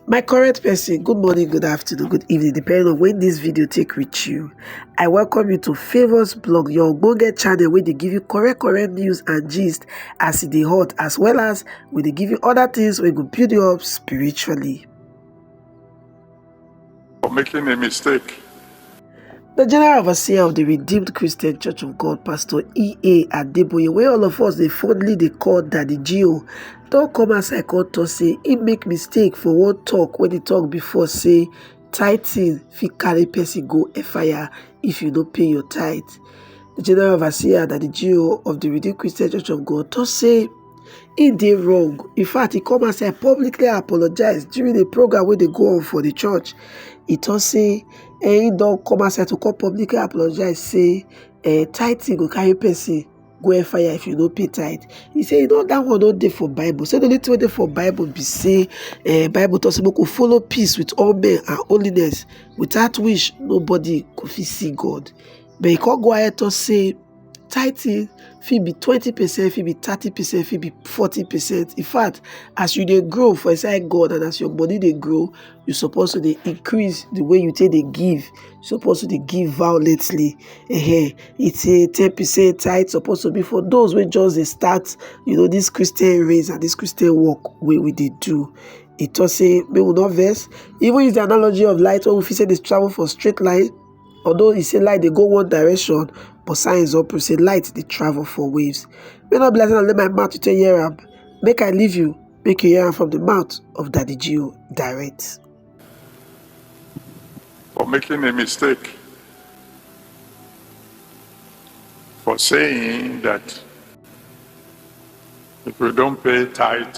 my correct person good morning good afternoon good evening depending on when this video take reach you i welcome you to favors blog your go get channel where they give you correct correct news and gist as it e hot as well as where they give you other things where go build you up spiritually for making a mistake. The General Overseer of the Redeemed Christian Church of God, Pastor E.A. Adeboye, where all of us they fondly they call Daddy Geo, don't come as I call to say he make mistake for one talk when he talk before say tithing fit carry person go a fire if you don't pay your tithe. The General Overseer Daddy Geo of the Redeemed Christian Church of God to say He dey wrong, in fact he come outside publicly apologize during a program wey dey go on for the church. He talk say um he don come outside to come publicly apologize say um tithing go carry person go hellfire if you no pay tithe. He say you know that one no dey for bible say the only thing wey dey for bible be say um bible talk say make we follow peace with all men and holiness without which nobody go fit see God. But he come go ahead talk say tithing fit be twenty percent fit be thirty percent fit be forty percent in fact as you dey grow for inside god and as your body dey grow you suppose to dey increase the way you take dey give you suppose to dey give violently uh-huh. it's a ten percent tithe suppose to be for those wey just dey start you know this christian race and this christian work wey we dey do e talk say make we no vex even use the analogy of light wey we fit say dey travel for straight line Although he say light dey go one direction, but science don prove say light dey travel for waves. Make no be like say na only my mouth you take hear am. Make I leave you, make you hear am from the mouth of Daddy Gio direct. for making a mistake, for saying that if you don't pay tithe,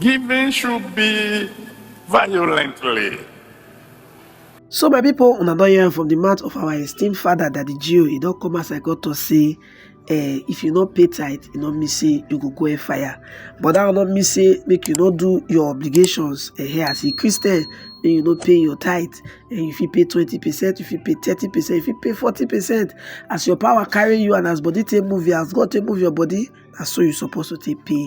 Giving should be violently. So my people, una don hear from the mouth of our esteemed father that the Jew, he don't come as I got to say, eh, if you not pay tight, you not miss say you go go in fire. But that will not miss say make you not do your obligations eh, here as a Christian, and you not pay your tithe, and eh, if you pay twenty percent, if you pay thirty percent, if you pay forty percent, as your power carry you and as body take move you, as God take move your body, that's so you supposed to take pay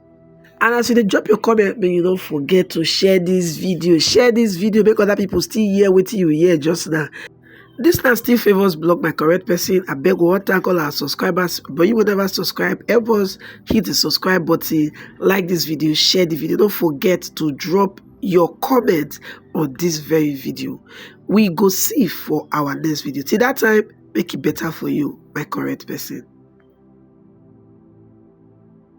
and as you dey drop your comment make you no forget to share this video share this video make other people still hear wetin you hear just now this na still favours blog my correct person I beg one thank all our subscribers but you will never subscribe help us hit the subscribe button like this video share the video don't forget to drop your comment on this very video we go see for our next video till that time make it better for you my correct person